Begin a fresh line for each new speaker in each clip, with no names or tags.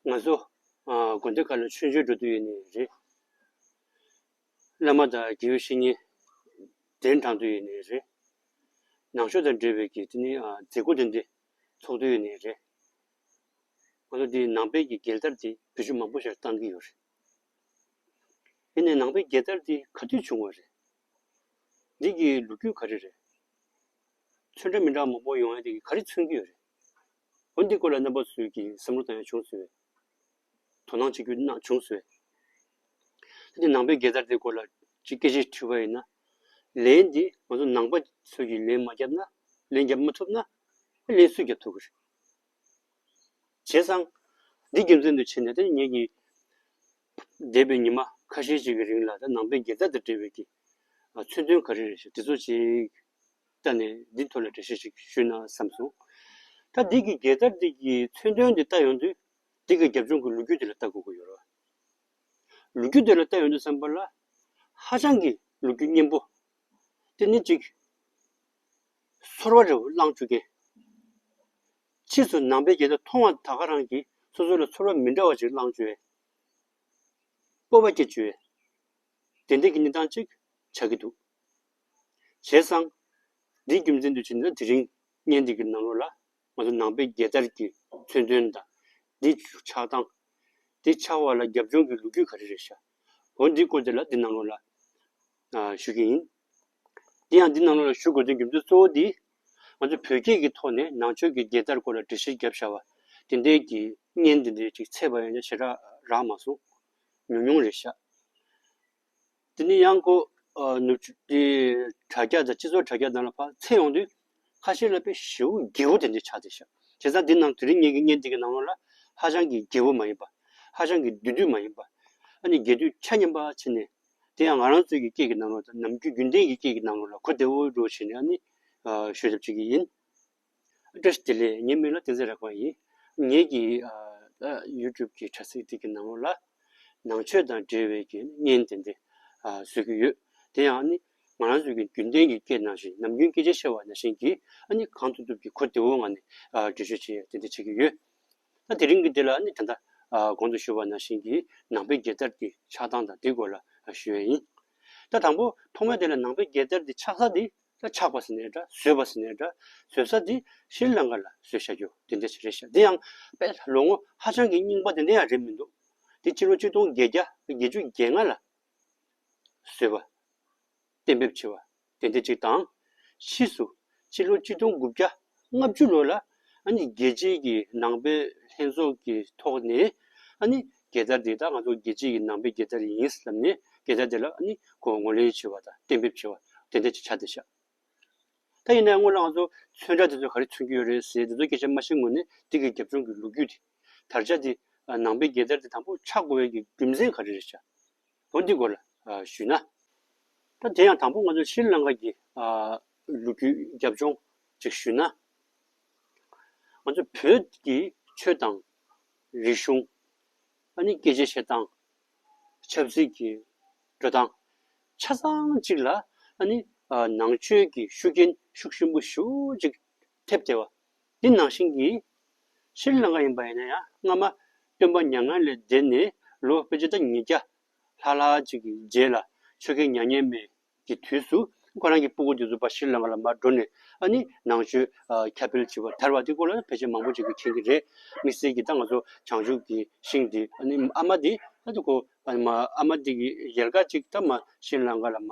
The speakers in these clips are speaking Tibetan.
ང་ཚོ་དགོན་སྡེ་ཁག་ལ་མཆོད་མཇལ་འགྲོ་འདོད་ཡོད་ནི་རེད། བླ་མ་དང་དགེ་བའི་བཤེས་གཉེན་གདན་དྲངས་འདོད་ཡོད་ནི་རེད། ནང་ཆོས་དང་འབྲེལ་བའི་གི་དེ་ནི་མཛད་སྒོ་འདི་འདི་ཚོགས་འདོད་ཡོད་ནི་རེད། ང་ཚོ་འདི་ནང་པའི་གི་རྒྱལ་དར་འདི་བོད་ཆུ་མང་པོ་ཞར་བཏང་གི་ཡོད་རེད། དེ་ནས་ནང་པའི་རྒྱལ་དར་འདི་ག་དུས་བྱུང་བ་རེད། འདི་གི་ལོ་རྒྱུས་ག་རེ་རེད། ཆོས་འདྲ་མི་འདྲ་མང་པོ་ཡོང་ཡ་འདི་ག་རེ་མཚོན་གི་ཡོད་རེད། འོན་ཏེ་སྐོར་ལས་རྣམ་པ་ཚུལ་གྱི་བསམ་བློ་དང་ཡང་བྱུང་ཟིན་བས། དོ་སྣང་བྱེད་རྒྱུ་ན་བྱུང་ཟིན་བས། ད་ནི་ནང་པའི་དགེ་རྩར་དེའི་སྐོར་ལ་ཅིག་སྐད་ཆེད་ཕྲི་བ་ཡིན་ན། ལན་འདི་ང་ཚོ་ནང་པ་ཚུལ་གྱིས་ལན་མ་བརྒྱབ་ན། ལན་བརྒྱབ་མ་ཐུབ་ན། ལན་སུས་བརྒྱབ་ཐུབ་ཀྱི་རེད། བྱས་ཙང། འདི་རྒྱུ་མཚན་དུ་བྱས་ནས་ད་ནི་ངེད་ཀྱིས། འདས་པའི་ཉི་མ་ཁ་ཤས་ཅིག་གི་རིང་ལ་ད་ནང་པའི་དགེ་རྩ་དང་འབྲེལ་བའི་གི། མཚོན་དོན་ག་རེ་རེད་ཞེས་འདི་ཚོ་ཅིག། བལྟ་ནས་འདི་ཐོག་ལ་འགྲེལ་བཤད་ཅིག་ཞུས་ན་བསམ་སོང། ད་འདི་གི་རྒྱལ་དར་འདི་གི་མཚོན་དོན་འདི་བལྟ་ཡོང་དུས། འདི་གི་རྒྱབ་ལྗོངས་ཀྱི་ལོ་རྒྱུས་འདི་ལ་བལྟ་དགོས་ཀྱི་ཡོད་རེད། ལོ་རྒྱུས་འདི་ལ་བལྟ་ཡོང་དུས་བསམ་པ་ལ། ཧ་ཅང་གི་ལོ་རྒྱུས་སྙན་པོ། འདི་ནི་ཅིག། ཚོར་བ་རེ་བ་བསླངས་བཅུག་མཁན། ཕྱིས་སུ་ནང་པའི་རྒྱལ་དར་མཐོང་བ་དག་ག་རང་གིས་སོ་སོ་ལ་ཚོར་བ་མི་འདྲ་བ་ཅིག་བསླངས་བཅུག་ཨེ། སྤོབས་པ་སྐྱེས་བཅུག་ཨེ། དེ་འདྲ་གི་གནས་སྟངས་ཅིག་ཆགས་ཀྱི་འདུག། བྱས་ཙང། འདིའི་རྒྱུ་མཚན་དུ་བྱས་ན་དེ་རིང་བརྙན་འདི་གི་ནང་ལོགས་ལ་ང་ཚོ་ནང་པའི་རྒྱལ་དར་གྱི་མཚོན་དོན་དང། འདི་ཆགས་སྟངས། འདི་ཆགས་བ་ལ་རྒྱབ་ལྗོངས་ཀྱི་ལོ་རྒྱུས་ག་རེ་རེད་ཤག་གོ་འདི་བཀོད་དེ་ལ་འདི་ནང་ལོགས་ལ་ཞུ་གི་ཡིན། དེ་ཡང་འདི་ནང་ལོགས་ལ་ཞུ་དགོས་དོན་རྒྱུ་མཚན་གཙོ་བོ་འདི། ང་ཚོ་བོད་སྐད་ཀྱི་ཐོག་ནས་ནང་ཆོས་ཀྱི་རྒྱལ་དར་སྐོར་ལ་འགྲེལ་བཤད་བརྒྱབ་ཤག་བ་དེ་འད་ཀྱི་བརྙན་འདི་འདྲའི་ཅིག་ཚད་པ་ཡང་ཅིག་ཞེ་དྲག་རག་མ་སོང། ཉུང་ཉུང་རེད་ཤག། དེ་ནས་ཡང་སྒོས་ནུབ་ཕྱོགས་ཀྱི་དྲ་རྒྱ་དང་སྤྱི་ཚོགས་དྲ་རྒྱ་དག་ལ་ཕར་ཚེས་ཡོང་དུས། ཁ་ཤས་ལ་པའི་ཞེ་བོ་རྒྱལ་བོ་དེ་འདྲའི་ཆགས་ཏེ་ཤར། དེ་སང་དེ་རྣམས་དེ་རིང་ངེད་ཀྱི་བརྙན་འདི་གི་ནང་ལོགས་ལ། ཧ་ཅང་གི་རྒྱལ་བོ་མ་ཡིན་པ། ཧ་ཅང་གི་བདུད་འདུལ་མ་ཡིན་པ། ཨ་ནི་རྒྱལ་དུས་ཆ་མཉམ་པ་ཕྱིན་ནས། དེ་ཡང་ང་རང་ཚོའི་གི་སྐད་ཀྱི་ནང་ལོགས་དང་ནམ་རྒྱུན་རྒྱུན་ལྡན་གྱི་སྐད་ཀྱི་ནང་ལོགས་ལ་གོ་བདེ་བོ་འགྲོ་བྱས་ནས་ཨ་ནི། ཤོད་ཐབས་བྱེད་ཀྱི་ཡིན། ཨདྲས་བདེ་ལེགས་ངའི་མིང་ལ་བསྟན་འཛིན་རེག་པ་ཡིན། ངེད་ཀྱི YouTube གི་དྲ་ཚིགས་འདི་གི་ནང་ལ། ནང་ཆོས་དང་འབྲེལ་བའི་དགེ་བསྙེན་བདེ་འདི་བཟོས་ཀྱི་ཡོད། དེ་ཡང་ནི་ང་རང་ཚོའི་རྒྱུན་ལྡན་གྱི་སྐད་ནང་བཞིན་ནམ་རྒྱུན་སྐད་ཆ་བཤད་བ་ནང་བཞིན་གྱིས་ནི་གང་ཐུབ་ཐུབ་ཀྱིས་གོ་བདེ་བོ་ངང་ནས་འབྲི་བརྗོད་བྱས་བདེ་འདི་བྱེད་ཀྱི་ཡོད། ད་དེ་རིང་གི་འདི་ལ་ནི་ད་ལྟ་གོང་དུ་ཞུས་བ་ནང་བཞིན་གྱིས་ནང་པའི་རྒྱལ་དར་འདི་ཆགས་སྟངས་དང་དེའི་སྐོར་ལ་ཞུས་ཡོད་ཡིན། ད་དང་པོ་ཐོག་མའི་དེ་ལ་ནང་པའི་རྒྱལ་དར་འདི་ཆགས་ས་འདི། ད་ཆགས་པ་ཟེར་ནས་འདྲ་ཟོས་པ་ཟེར་ནས་འདྲ་ཟོས་ས་དེ་ཤྲི་ལངྐ་ལ་ཟོས་བཞག་རྒྱུ་དེ་འདྲ་ཞིག་རེད་ཤག་དེ་ཡང་དཔེ་ལོ་ངོ་ཧ་ཅང་གི་རྙིང་པ་དེ་འདྲ་ཡང་རེད་མི་འདུག་དེ་སྤྱི་ལོ་བཅུ་སྟོང་བརྒྱད་བརྒྱ་བརྒྱད་ཅུ་བརྒྱད་ལྔ་ལ་བཟོས་པ། གཏན་འབེབས་བྱས་པ་དེ་འདྲ་ཅིག་དང། ཕྱིས་སུ་སྤྱི་ལོ་བཅུ་སྟོང་དགུ་བརྒྱ་ལྔ་བཅུ་ལོ་ལ་རྒྱལ་སྤྱིའི་གི་ནང་པའི་ལྷན་ཚོགས་ཀྱི་ཐོག་ནས་རྒྱལ་དར་དེ་དག་ང་ཚོ་རྒྱལ་སྤྱིའི་གི་ནང་པའི་རྒྱལ་དར་ཡིན་བསམ་ནས་རྒྱལ་དར་དེ་ལ་ངོས་ལེན་བྱེད་པ་དང་གཏན་འབེབས་བྱེད་པ་དེ་འདྲ་ཅིག་བྱ་བསྡད་བྱ། ད་ཡིན་ནའི་སྔོན་ལ་ང་ཚོ་མཚོན་རྟགས་དེ་ཚོ་ག་རེ་མཚོན་གྱི་ཡོད་རེད་ཟེར་དེ་ཚོ་སྐད་ཆ་སྨྲ་བཞིན་ངོས་ནས་འདི་གི་རྒྱབ་ལྗོངས་ཀྱི་ལོ་རྒྱུས་དེ་དར་ཆ་དེ་ནང་པའི་རྒྱལ་དར་དེ་དང་པོ་ཆགས་དགོས་པའི་གི་རྒྱུ་མཚན་ག་རེ་རེད་བྱ། ལོ་འདི་སྐོར་ལ་ཞུས་ན། ད་དེ་ཡང་དང་པོ་ང་ཚོ་ཤྲཱི་ལངྐ་གི་ལོ་རྒྱུས་རྒྱབ་ལྗོངས་ཅིག་ཞུས་ན། ང་ཚོ་བོད་ཀྱི་ཆོས་དང། རིག་གཞུང། ཨ་ནི་སྐད་ཆའི་བཤད་སྟངས། ཆབ་སྲིད་ཀྱི་འགྲོ་སྟངས། ཆ་ཚང་གཅིག་ལ་ཨ་ནི་ནང་ཆོས་ཀྱི་ཤུགས་རྐྱེན་ཤུགས་ཆེན་པོ་ཞུགས་ཅིག་ཐེབས་ཏེ། འདི་ནང་བཞིན་གྱི། ཤྲཱི་ལངྐ་ཡིན་པ་ཡིན་ན་ཡང་སྔ་མ། སྟོན་པ་མྱ་ངན་ལས་འདས་ནས་ལོ་དཔེ་ཆ་ད་ཉིས་བརྒྱ། ལྷག་ལྷག་ཅིག་གི་རྗེས་ལ་ཆོས་རྒྱལ་མྱ་ངན་མེད་ཀྱི་དུས་སུ་ཁོ་རང་གི་སྤུ་གུ་དེ་ཚོ་པ་ཤྲཱི་ལངྐ་ལ་མར་འགྲོ་ནས་ཨ་ནི་ནང་ཆོས་ཁྱབ་སྤེལ་བྱེད་པར་དར་བ་དེ་སྐོར་ལ་ཕལ་ཆེར་མང་པོ་ཅིག་གིས་མཁྱེན་གྱི་རེད། དམིགས་བསལ་གྱིས་ད་ང་ཚོ་བྱང་ཆུབ་ཀྱི་ཤིང་འདི་ཨ་ནི་ཨ་མ་འདི་ཨ་ཏི་ཁོ་ཨ་ནི་མ་ཨ་མ་འདི་གི་ཡལ་ག་ཅིག་ད་མ་ཤྲཱི་ལངྐ་ལ་མ།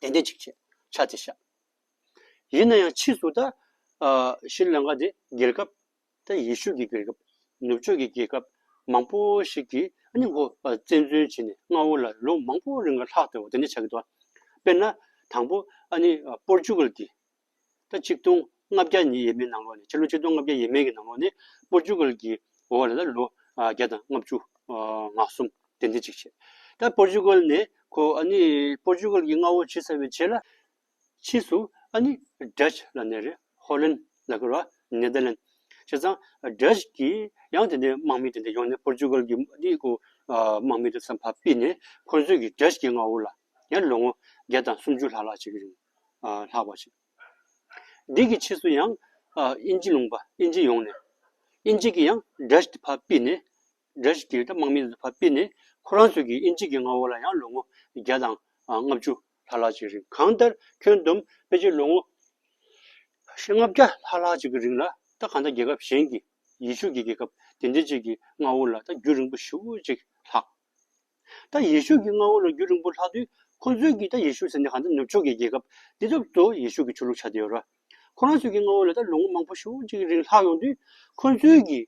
གདན་འདྲེན་ཅིག་བྱས་ཕྱག་འཚལ་བཞག། ཡིན་ན་ཡང་ཕྱིས་སུ་ད་ཤི་ལང་ཀ་དེ་རྒྱལ་ཁབ་དང་ཡེ་ཤུ་ཀྱི་རྒྱལ་ཁབ་ནུབ་ཕྱོགས་ཀྱི་རྒྱལ་ཁབ་མང་པོ་ཞིག་གིས་ནི་མགོ་བཙན་འཛུལ་བྱས་ནས་རྔ་བོ་ལ་ལོ་མང་པོ་རིང་ལ་ལྷག་དེ་བ་དེ་འདྲ་བྱ་གི་འདུག་བ། དཔེར་ན་དང་པོ་ཨ་ནི་པོར་ཅུ་ཀལ་གྱི་ལོ་གཅིག་སྟོང་ལྔ་བརྒྱ་ཉིས་ཡས་མའི་ནང་ལོགས་ནས་ཕྱི་ལོ་ཆིག་སྟོང་ལྔ་བརྒྱ་ཡས་མས་ཀྱི་ནང་ལོགས་ནས་པོར་ཅུ་ཀལ་གྱིས་འོ་བ་ལ་ལ་ལོ་བརྒྱ་དང་ལྔ་བཅུ་ང་གསུམ་དེ་འདི་གཅིག་བྱས། ད་པོར་ཅུ་ཀལ་ནས་ཁོ་ཨ་ནི་པོར་ཅུ་ཀལ་གྱི་མངའ་འོག་ཇི་ས་བས་བྱས་ལ། ཕྱིས་སུ་ཨ་ནི Dutch ལ་ནས་རེད་ཧོ་ལན་ལ་བསྐུར་བ Netherland བྱས་ཙང Dutch གྱིས་ཡང་དེ་འདི་དམག་མི་དེ་འདི་ཡོང་ནས་པོར་ཅུ་ཀལ་གྱི་དམག་མི་དེ་ཚོ་ཕ་སྤིད་ནས་ཁོ་ཚོས་ཀྱིས Dutch གྱི་མངའ་འོག་ལ། ཡང་ལོ་ངོ་བརྒྱ་དང་སུམ་ཅུ་ལྷག་ལྷག་བྱེད་ཀྱི་རེད། ལྷག་པར་བྱེད། འདི་གི་ཕྱིས་སུ་ཡང་དབྱིན་ཇི་ལུང་པ་དབྱིན་ཇི་ཡོང་ནས་དབྱིན་ཇི་གི་ཡང་སྒྲས་དེ་ཕར་སྤིད་ནས་སྒྲས་དེ་དམག་མི་དེ་ཕར་སྤིད་ནས་ཁོ་རང་ཚོ་གི་དབྱིན་ཇི་གི་མངའ་འོག་ལ་ཡང་ལོ་ངོ་བརྒྱ་དང་ལྔ་བཅུ་ལྷག་ལྷག་བྱེད་ཀྱི་རེད་གང་ལྟར་ཁྱོན་བསྡོམས་དཔེ་ཆའི་ལོ་ངོ་ཞེ་ལྔ་བརྒྱ་ལྷག་ལྷག་ཅིག་གི་རིང་ལ་ད་གང་ལྟར་རྒྱལ་ཁབ་གཞན་གྱི་ཡེ་ཤུ་གི་རྒྱལ་ཁབ་དེ་འདྲའི་ཅིག་གི་མངའ་འོག་ལ་ད་རྒྱུན་རིང་པོ་ཞིག་ལྷག། ད་ཡེ་ཤུ་གི་མངའ་འོག་ལ་རྒྱུ་རིང་པོ་ལྷག་དུས་ཁོ་ཚོས་ཀྱིས་ད་ཡེ་ཤུ་ཟེར་ནས་གང་ལྟར་ནུབ་ཕྱོགས་ཀྱི་རྒྱལ་ཁབ་འདི་རབ་ཏུ་ཡེ་ཤུ་གི་ཆོས་ལུགས་ཆགས་བསྡད་ཡོད་ར། ཁོ་རང་ཚོའི་གི་མངའ་འོག་ལ་ད་ལོ་ངོ་མང་པོ་ཞིག་ཅིག་གི་རིང་ལྷག་ཡོང་དུས་ཁོ་ཚོའི་གི་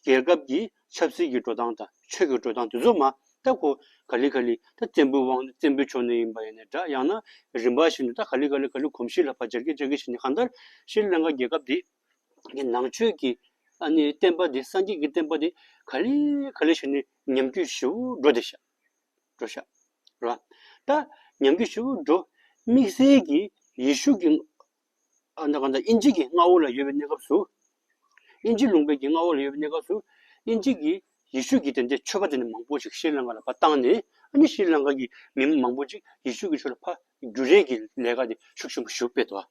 རྒྱལ་ཁབ་ཀྱི་ཆབ་སྲིད་ཀྱི་འགྲོ་སྟངས་དང་ཆོས་ཀྱི་འགྲོ་སྟངས་དེ་ཚོ་མ་ད་ཁོ་ག་ལི་ག་ལི་ད་བཙན་པོའི་དབང་བཙན་པོའི་ཕྱོགས་ནས་ཡིན་པ་ཡིན་ནའི་འདྲ་ཡང་ན་རིམ་པ་ཞིག་ནས་ད་ག་ལི་ག་ལི་ག་ལི་གོམས་གཤིས་ལ་བར་བཅར་གྱི་བཅར་གྱི་བྱས་ནས་གང་ལྟར་ཤྲི་ལངྐ་རྒྱལ་ཁབ་འདིས། ནི་ནང་ཆོས་ཀྱི་ཨ་ནི་བསྟན་པ་འདི་སངས་རྒྱས་ཀྱི་བསྟན་པ་འདི་ག་ལེ་ག་ལེ་ཞིག་ནི་ཉམས་རྒྱུད་བཞི་བོ་འགྲོ་བདེ་ཤག་འགྲོ་ཤག་རོ། ད་ཉམས་རྒྱུད་བཞི་བོ་འགྲོ་དམིགས་བསལ་གྱི་ཡེ་ཤུ་ཀྱི་ཨ་ན་ག་ན་དབྱིན་ཇི་ཀྱི་མངའ་འོག་ལ་ཡོད་པའི་གནས་སྐབས་སུ། དབྱིན་ཇི་ལུང་པའི་ཀྱི་མངའ་འོག་ལ་ཡོད་པའི་གནས་སྐབས་སུ་དབྱིན་ཇི་ཀྱི་ཡེ་ཤུ་ཀྱི་དེ་འདྲའི་ཆོས་པ་དེ་ནི་མང་པོ་ཞིག་ཤྲཱི་ལངྐ་ལ་ཕ་བཏང་ནས་ཨ་ནི་ཤྲཱི་ལངྐ་ཀྱི་མི་མང་པོ་ཅིག་ཡེ་ཤུ་ཀྱི་ཆོས་ལ་ཕ་རྒྱུ་རེས་ཀྱི་ལས་ཀ་དེ་ཤུགས་ཆེན་པོ་ཞུ་སྤེལ་ཏོ།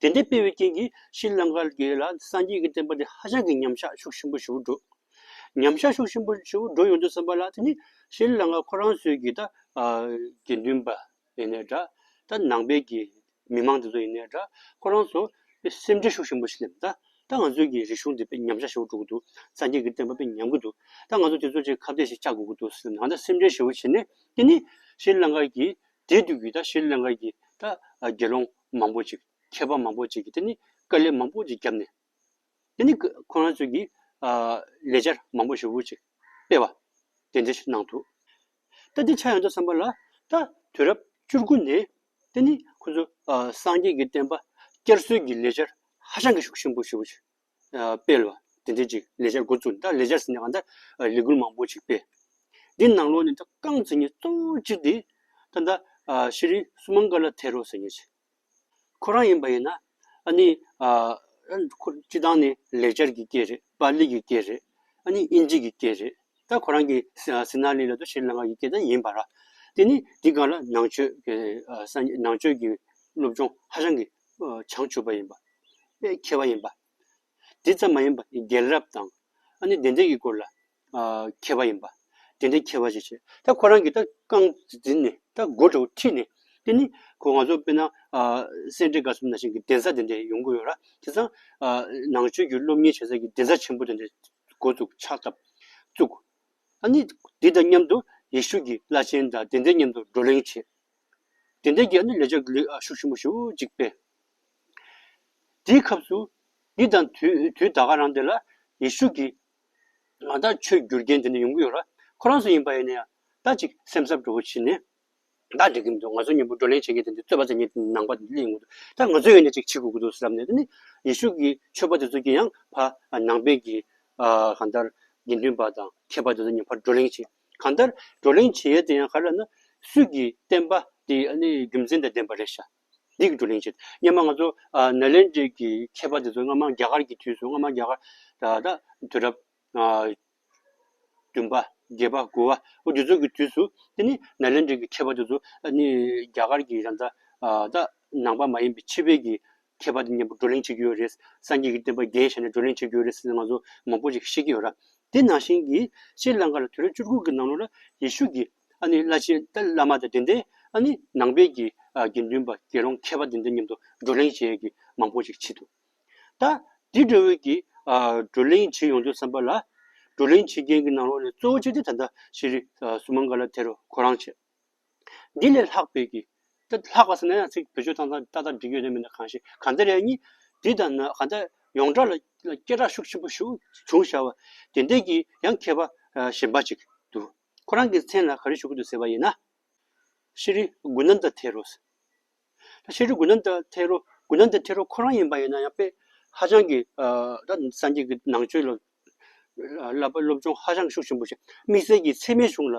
དེ་འདྲའི་སྤེལ་བའི་རྐྱེན་གྱིས་ཤྲཱི་ལང་ཀར་རྒྱལ་ལ་སངས་རྒྱས་ཀྱི་བསྟན་པ་འདི་ཧ་ཅང་གི་ཉམས་ཆག་ཤུགས་ཆེན་པོ་ཞུ་འགྲོ། ཉམས་ཆག་ཤུགས་ཆེན་པོ་ཞུ་འགྲོ་ཡོང་དུས་བསམ་པ་ལ་དེ་ནི་ཤྲཱི་ལང་ཀ་ཁོ་རང་ཚོའི་གི་ད་དགེ་འདུན་པ་ཡིན་ནའི་འདྲ་ད་ནང་པའི་གི་མི་མང་དེ་ཚོ་ཡིན་ནའི་འདྲ་ཁོ་རང་ཚོ་སེམས་ཁྲལ་ཤུགས་ཆེན་པོ་ཞིག་སླེབས་ད་ང་ཚོའི་གི་རིག་གཞུང་འདི་དཔེ་ཉམས་ཆག་ཞུ་འགྲོ་གི་འདུག་སངས་རྒྱས་ཀྱི་བསྟན་པ་དཔེ་ཉམས་གི་འདུག་ད་ང་ཚོ་དེ་ཚོ་ཆེ་ཁ་བརྡས་ཤིག་བཅག་དགོས་ཀྱི་འདུག་སེམས་ཁྲལ་ཞེ་བོ་བྱེད་ནས་དེ་ནི་ཤྲཱི་ལང་ཀར་གྱི་དེའི་དུས་ཀྱི་ད་ཤེས་ལན་འགའ་ཡི་ད་དགེ་སློང་མང་པོ་ཅིག་མཁས་པ་མང་པོ་ཅིག་གིས་དེ་ནི་དཀའ་ལས་མང་པོ་ཅིག་བརྒྱབ་ནས། དེ་ནི་ཁོ་རང་ཚོས་ཀྱིས་ལས་འཆར་མང་པོ་ཞིག་བུ་ཅིག་སྤེལ་བ་དེ་འདིར་གནང་འདུག་ད་འདི་ཆ་ཡང་ད་བསམ་པ་ལ་ད་དུས་རབས་བཅུ་དགུ་ནས་དེ་ནི་ཁོ་ཚོས་སངས་རྒྱས་ཀྱི་བསྟན་པ་བསྐྱར་གསོའི་གྱི་ལས་འཆར་ཧ་ཅང་གི་ཤུགས་ཆེན་པོ་ཞིག་བུ་ཅིག་སྤེལ་བ། དེ་འདྲའི་ཅིག་ལས་འཆར་འགོ་བཙུགས་ནས་ད་ལས་འཆར་ཟིན་ནས་ད་ལས་འགུལ་མང་པོ་ཞིག་སྤེལ། འདི་ནང་ལོགས་ནས་ད་རྐང་འཛིན་མཁན་གཙོ་བོ་གཅིག་དེ་ད་ད་ཤེས་རིག་སུ་མང་དཀར་ལ་ཐེ་རོ་ཟེར་མཁན་ཞིག་ཁོ་རང་ཡིན་པ་ཡིན་ན་ཨ་ནི་ཁོ་སྤྱི་བཏང་ནས་ལས་འཆར་གྱི་སྐད་རེད་པཱ་ལི་གི་སྐད་རེད་ཨ་ནི་དབྱིན་ཇི་གི་སྐད་རེད་ད་ཁོ་རང་གི་སི་ན་ལི་ལ་ད་ཤྲི་ལང་ཀ་གི་སྐད་ད་ཡིན་པ་ར། དེ་ནི་འདི་ག་ལ་ནང་ཆོས་ཀྱི་སློབ་སྦྱོང་ཧ་ཅང་གི་བྱང་ཆུབ་པ་ཡིན་པ། དཔེ་འཁྱེར་བ་ཡིན་པ། དེ་ཙམ་མ་ཡིན་པར་རྒྱལ་རབས་དང། ཨ་ནི་བདེན་བྲལ་གྱི་སྐོར་ལ་མཁས་པ་ཡིན་པ། དེ་འདྲའི་མཁས་པ་ཞིག་བྱས། ད་ཁོ་རང་གིས་ད་རྐང་འཛིན་ནས་ད་མགོ་དྲོ་ཁྲིད་ནས་དེ་ནི་ཁོ་ང་ཚོ་དཔེར་ན་སེ་འབྲས་དགའ་གསུམ་ན་བཞིན་གྱི་གདན་ས་དེ་འདྲས་ཡོང་གི་ཡོད་ར་དེ་སང་ནང་ཆོས་ཀྱི་སློབ་གཉེར་བྱེད་ས་ཀྱི་གདན་ས་ཆེན་པོ་དེ་འདྲས་འགོ་བཙུགས་ཕྱག་བཏབ་བཙུགས། ཨ་ནི་དེ་དང་མཉམ་དུ་ཡེ་ཤུ་ཀྱི་བླ་ཆེན་དང་དེ་འདྲས་མཉམ་དུ་བགྲོ་གླེང་བྱས། དེ་འདྲའི་རྒྱལ་ནི་ལས་ཆོག་གི་ལུས་ཤུགས་ཞིམ་པོ་ཞུ་གཅིག་པས། དེའི་ཁབ་སུ་འདི་དང་དུས་ད་ག་རང་འདི་ལ་ཡེ་ཤུ་གིས། ང་ད་ཆོས་བསྒྱུར་རྒྱན་དེ་འདྲ་ཡོང་གི་ཡོད་ལ་ཁོ་རང་སུ་ཡིན་པ་ཡིན་ན་ཡང་ད་ཅིག་སེམས་འཚབ་འགྲོ་བོ་བྱེད་ནས་ད་འགྲིག་གི་མི་འདུག་ང་ཚོ་གཉིས་པོ་བགྲོ་གླེང་བྱེད་མཁན་དེ་འདྲ་རྩོད་པ་བྱེད་མཁན་ནང་པ་གླེང་ཡོང་གི་འདུག་ད་ང་ཚོའི་ཡོད་ནས་ཅིག་བྱེད་དགོས་ཀྱི་འདུག་བསམ་ནས་དེ་ནི་ཡེ་ཤུ་གིས་ཆོས་པ་དེ་ཚོ་གྱིས་ཡང་ཕ་ནང་པའི་གིས་གང་ལྟར་དགེ་འདུན་པ་དང་མཁས་པ་དེ་ཚོ་གཉིས་ཕར་བགྲོ་གླེང་བྱེད། གང་ལྟར་བགྲོ་གླེང་བྱེད་ཡུལ་དེ་ཡང་ག་རེ་ན་སུས་ཀྱིས་བསྟན་པ་དེ་རྒྱུ་མཚན་དང་ལྡན་པ་རེད་ཤག་འདི་གི་བགྲོ་གླེང་བྱེད་སྙམ་པ་ང་ཚོ་ནཱ་ལེནྡྲའི་གི་མཁས་པ་དེ་ཚོ་སྔ་མ་རྒྱ་གར་གྱི་དུས་སུ་སྔ་མ་རྒྱ་གར་ད་དུས་རབས་བདུན་པ་བརྒྱད་པ་དགུ་བ་འོ་དེ་ཚོ་གི་དུས་སུ་དེ་ནི་ནཱ་ལེནྡྲའི་གི་མཁས་པ་དེ་ཚོ་རྒྱ་གར་གྱི་རང་ས་ད་ནང་པ་མ་ཡིན་པའི་ཕྱི་པའི་གི། མཁས་པ་དེ་གཉིས་པོ་བགྲོ་གླེང་བྱེད་ཀྱི་ཡོད་རེད། སངས་རྒྱས་ཀྱི་བསྟན་པ་རྒྱས་བྱས་ནས་བགྲོ་གླེང་བྱེད་ཀྱི་ཡོད་རེད་ཟེར་ནས་ང་ཚོ་མང་པོ་ཞིག་ཤེས་ཀྱི་ཡོད་ར། དེ་ནང་བཞིན་གྱི་ཤྲཱི་ལངྐ་ལ་དུས་རབས་བཅུ་དགུ་གི་ནང་ལོ་ལ་ཡེ་ཤུ་གྱི་ཨ་ནི་བླ་ཆེན་ཏཱ་ལི་བླ་མ་དང་དེ་འདའི་ཨ་ནི་ནང་པའི་གྱི་དགེ་འདུན་པ་དགེ་སློང་མཁས་པ་དེ་འདའི་མཉམ་དུ་བགྲོ་གླེང་བྱེད་མཁན་མང་པོ་ཞིག་བྱེད་འདུག་ད། དེ་འདྲ་བོའི་གྱི་བགྲོ་གླེང་བྱེད་ཡོང་དུས་བསམ་པ་ལ། བགྲོ་གླེང་བྱེད་མཁན་གྱི་ནང་ལོགས་ནས་གཙོ་བོ་བྱེད་དེ་ད་ལྟ་ཤྲཱི་སུ་མང་ཀ་ལ་དེར་གོ་རང་བྱེད། འདི་ལས་ལྷག་པའི་ཀྱིས། ལྷག་པ་ཟེར་ན་ཡང་ཚིག་བེད་སྤྱོད་སྟངས་ཏག་ཏག་འགྲིག་ཡོད་ནི་མིན་ན་གང་ཞིག་གང་འདི་རེད་གཉིས། འདི་དང་ན་གང་འདི། ཡོངས་གྲགས་ལ་སྐད་གྲགས་ཤུགས་ཆེན་པོ་ཞུགས་བྱུང་ཤར་བ། དེ་འདྲས་ཀྱིས་ཡང་མཁས་པ་གཞན་པ་ཅིག་ཏུ། ཁོ་རང་གི་མཚན་ལ་ག་རེ་ཞུ་གི་འདུག་ཟེར་བ་ཡིན་ན། ཤེས་རིག་དགུན་ནམ་ད་ཐེ་རོ། ད་ཤེས་རིག་དགུན་ནམ་ད་ཐེ་རོ་དགུན་ནམ་ད་ཐེ་རོ་ཁོ་རང་ཡིན་པ་ཡིན་ན་ཡང་དཔེ་ཧ་ཅང་གི་ད་སངས་རྒྱས་ཀྱི་ནང་ཆོས་ལ་ལ་བ་སློབ་སྦྱོང་ཧ་ཅང་ཤུགས་ཆེན་པོ་བྱས། དམིགས་བསལ་གྱི་འཚེ་མེད་གཞུང་ལ་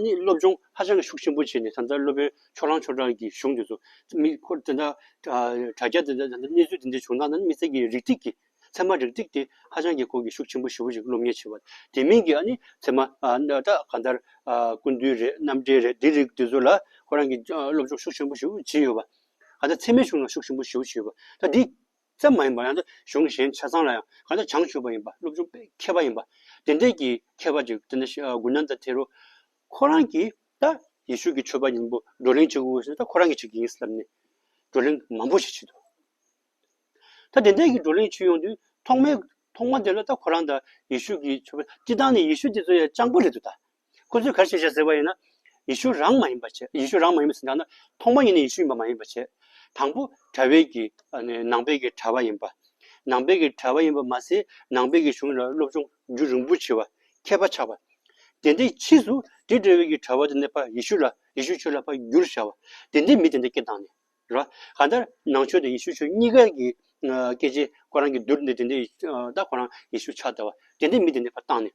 ནི་སློབ་སྦྱོང་ཧ་ཅང་ཤུགས་ཆེན་པོ་བྱས་ནས་ད་ལྟ་སློབ་དཔོན་ཕྱོགས་རང་ཕྱོགས་རང་གི་གཞུང་དེ་ཚོ་མིག་འཁོར་དེ་འདྲ་དྲ་རྒྱ་དེ་འདྲ་གནས་ཚུལ་དེ་འདྲ་བྱུང་ན་ནི་དམིགས་བསལ་གྱི་རིགས་གཅིག་གི་ཚད་མ་རིགས་གཅིག་དེ་ཧ་ཅང་གི་གོ་གི་ཤུགས་ཆེན་པོ་ཞི་བོ་ཞིག་སློབ་གཉེར་བྱེད་པ་དེ་མིན་གྱི་ཨ་ནི་ཚད་མ་ད་གང་ལྟར་ཀུན་འདུས་རེད་རྣམ་འགྲེལ་རེད་དེ་རིགས་དེ་ཚོ་ལ་ཁོ་རང་གིས་སློབ་སྦྱོང་ཤུགས་ཆེན་པོ་ཞི་བོ་བྱས་ཡོད་པ། ད་ལྟ་འཚེ་མེད་གཞུང་ལ་ཤུགས་ཆེན་པོ་ཞི་བོ་བྱས་ཡོད་པ། ད་འདི། ཙམ་མ་ཡིན་པར་ཡང་ན་གཞུང་གཞན་ཆ་ཚང་ལ་ཡང་གང་ལྟར་བྱང་ཆུབ་པ་ཡིན་པ་སློབ་ཆུང་པའི་མཁས་པ་ཡིན་པ་དེ་འདྲས་ཀྱི་མཁས་པ་ཅིག་དེ་འདྲ་ཞིག་དགོས་སྙམ་ད་དེ་རུ། ཁོ་རང་གིས་ད་ཡེ་ཤུ་ཀྱི་ཆོས་པ་ཡིན་པོ་བགྲོ་གླེང་བྱེད་དགོས་ཟེར་ད་ཁོ་རང་གིས་བྱེད་ཀྱི་ཡིན་བསམ་ནས་བགྲོ་གླེང་མང་པོ་ཞིག་བྱེད་དོ། ད་དེ་འདྲས་ཀྱི་བགྲོ་གླེང་བྱེད་ཡོང་དུས་ཐོག་མའི་ཐོག་མ་དེ་ལ་ད་ཁོ་རང་ད་ཡེ་ཤུ་ཀྱི་ཆོས་པ་སྤྱི་བཏང་ནས་ཡེ་ཤུ་དེ་ཚོ་ཡང་སྤྱང་པོ་རེད་དོ་ད་སྐུ་བརྫུན་གར་བྱེད་བྱ་ཟེར་བ་ཡིན་ན། ཡེ་ཤུ་རང་མ་ཡིན་པར་བྱེད། ཡེ་ཤུ་རང་མ་ཡིན་པ་ཟེར་ན་ཐོག་མ་ཉིད་ནས་ཡེ་ཤུ་ཡིན་པ་མ་ཡིན་པར་བྱེད། དང་པོ་དྲ་བས་ཀྱི་ནང་པས་ཀྱི་དྲ་བ་ཡིན་པ། ནང་པས་ཀྱི་དྲ་བ་ཡིན་པ་མ་ཟད་ནང་པས་ཀྱི་གཞུང་ལ་སློབ་སྦྱོང་རྒྱུད་རིང་པོ་བྱེད་པ་མཁས་པ་ཆགས་པ། དེ་འདྲའི་ཕྱིས་སུ་དྲི་བྲལ་བས་ཀྱི་དྲ་བ་དུ་གནས་པ་ཡེ་ཤུ་ལ་ཡེ་ཤུའི་ཆོས་ལ་བར་འགྱུར་བྱ་བ། དེ་འདྲའི་མི་དེ་འདྲ་སྐད་བཏང་ནས། རེད་པ། གང་ལྟར་ནང་ཆོས་དང་ཡེ་ཤུའི་ཆོས་གཉིས་ཀ་གི་སྐད་ཆའི་ཁོ་རང་གི་བསྡུར་འདི་དེ་འདྲའི་ད་ཁོ་རང་ཡེ་ཤུ་ཕྱག་བཏབ་བ། དེ་འདྲའི་མི་དེ་འདྲ་བར་བཏང་ནས།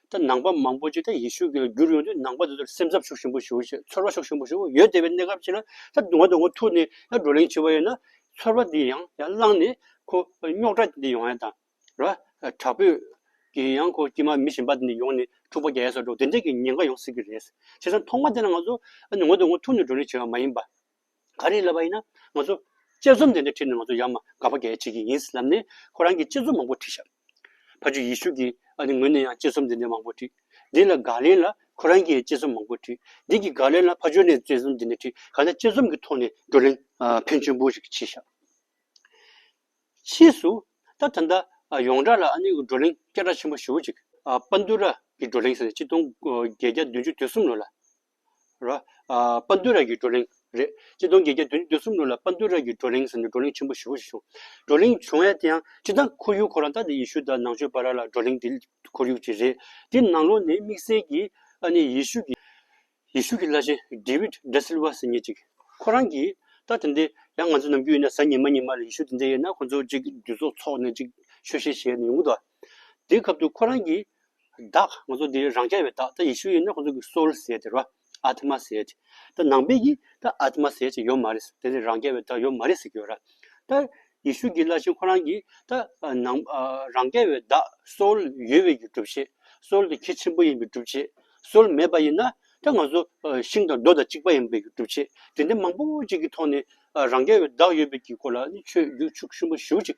ད་ནང་པ་མང་པོ་ཅིག་ད་ཡེ་ཤུ་ཀྱི་ལ་བསྒྱུར་ཡོང་དུས་ནང་པ་དེ་ཚོར་སེམས་འཚབ་ཤུགས་ཆེན་པོ་ཞུ་ཞེས་ཚོར་བ་ཤུགས་ཆེན་པོ་ཞུ་ཡོད་དེ་བས་གནས་སྐབས་ཅིག་ལ་ད་ང་དང་ཁོ་ཐུག་ནས་ཡང་བགྲོ་གླེང་བྱེད་པ་ཡིན་ན་ཚོར་བ་དེ་ཡང་ཡང་བསླངས་ནས་ཁོ་རྙོག་དྲ་འདི་ཡོང་ཡ་དང་ར་དྲག་པོས་ཀྱི་ཡང་ཁོ་དཀྱིས་མ་མི་གཞན་པ་དེ་འདི་ཡོང་ནས་འཁྲུག་པ་རྒྱག་ཡ་སོགས་འགྲོ་དེ་འདྲས་ཀྱི་ཉེན་ཁ་ཡོང་སྲིད་ཀྱི་རེད། བྱས་ཙང་ཐོག་མ་དེ་ལ་ང་ཚོ་ང་དང་ཁོ་ཐུག་ནས་བགྲོ་གླེང་བྱེད་པ་མ་ཡིན་པ། ག་རེ་ལབ་པ་ཡིན་ན་ང་ཚོ་དཔྱད་རྩོམ་དེ་འདྲ་བྲིས་ན་ང་ཚོ་ཡང་མ་དགའ་བ་འགས་བྲིས་ཀྱི་ཡིན་ལབ་ནས་ཁོ་རང་གིས་དཔྱད་རྩོམ་མང་པོ་བྲིས་ཤག་ཕ་ཆོས་ཡིད་ཤུགས་ཀྱིས་ཨ་ནི་ངོས་ནས་ཡང་དཔྱད་རྩོམ་འདི་འདྲ་མང་པོ་བྲིས་འདི་ལ་དགའ་ལན་ལ་ཁོ་རང་གིས་དཔྱད་རྩོམ་མང་པོ་བྲིས་འདི་གི་དགའ་ལན་ལ་ཕ་ཆོས་ནས་དཔྱད་རྩོམ་འདི་འདྲ་བྲིས་ག་ལ་དཔྱད་རྩོམ་གྱི་ཐོག་ནས་བགྲོ་གླེང་ཕན་ཆེན་པོ་ཞིག་བྱས་ཤག་ཕྱིས་སུ་ད་ད་ལྟ་ཡོངས་གྲགས་ལ་ཨ་ནི་བགྲོ་གླེང་སྐད་གྲགས་ཆེན་པོ་ཞུ་ཅིག་པཱ་ཏུ་ར་གི་བགྲོ་གླེང་ཟེར་ནས་སྤྱི་སྟོང་བརྒྱད་བརྒྱ་བདུན་ཅུ་དོན་གསུམ་ལོ་ལ། རོ། དཔའ་འདུལ་ར་གྱི་བགྲོ་གླེང། རེད། སྤྱི་སྟོང་བརྒྱད་བརྒྱ་དོན་བདུན་གསུམ་ལོ་ལ་དཔའ་འདུལ་ར་གྱི་བགྲོ་གླེང་ཟེར་ནས་བགྲོ་གླེང་ཆེན་པོ་བཞི་བོ་ཞིག་བྱུང། བགྲོ་གླེང་བྱུང་བས་དེ་ཡང་སྤྱི་དང་ཁོར་ཡུག་ཁོ་རང་ད་ནི་ཡེ་ཤུ་དང་ནང་ཆོས་པ་ར་ལ་བགྲོ་གླེང་དེ་ཁོར་ཡུག་ཅིག་རེད། དེ་ནང་ལོགས་ནས་དམིགས་བསལ་གྱིས་ཨ་ནེ་ཡེ་ཤུ་གྱི། ཡེ་ཤུ་གྱི་བླ་ཆེན་དེ་བིད་ད་སིལ་བ་ཟེར་ཉིན་ཅིག། ཁོ་རང་གིས། ད་དེ་འདི་ཡང་ང་ཚོ་ནམ་རྒྱུན་ཡིན་ན་གཟའ་ཉི་མ་ཉི་མ་ལ་ཡེ་ཤུ་དེ་འདྲ་ཡོད་ན་ཁོ་ཚོ་གཅིག་འདུས་ཚོགས་འཚོགས་ནས་ཅིག་ཆོས་བཤད་བྱས་ཡོང་གི་འདུག་དེའི་སྐབས་དུ་ཁོ་རང་གིས། བདག་ང་ཚོ་འདི་རང་རྐྱ་བའི་བདག་ད་ཡེ་ཤུ་ཡིན་ན་ཁོ་ཚོ་གི soul ཟེར་དེ་རོ Atma ཟེར་ཏེ། ད་ནང་པའི་གི་ད Atma ཟེར་ཅིག་ཡོད་མ་རེད་དེ་ནི་རང་རྐྱ་བའི་བདག་ཡོད་མ་རེད་ཟེར་གི་ཡོད་ར། ད་ཡེ་ཤུ་གི་ལར་ཞིང་ཁོ་རང་གི་ད་ནང་རང་རྐྱ་བའི་བདག soul ཡོད་བའི་གི་སྒྲུབ་བྱེད soul དེ་ཁྱི་ཆེན་པོ་ཡིན་པའི་སྒྲུབ་བྱེད soul མེད་པ་ཡིན་ན་ད་ང་ཚོ་ཤིང་དང་རྡོ་དང་གཅིག་པ་ཡིན་པའི་གི་སྒྲུབ་བྱེད་དེ་འདྲ་མང་པོ་ཅིག་གི་ཐོག་ནས་རང་རྐྱ་བའི་བདག་ཡོད་པའི་གི་སྐོར་ལ་ཆོས་བརྒྱུད་ཕྱུག་ཤུན་པོ་བཞུགས་ཅིག།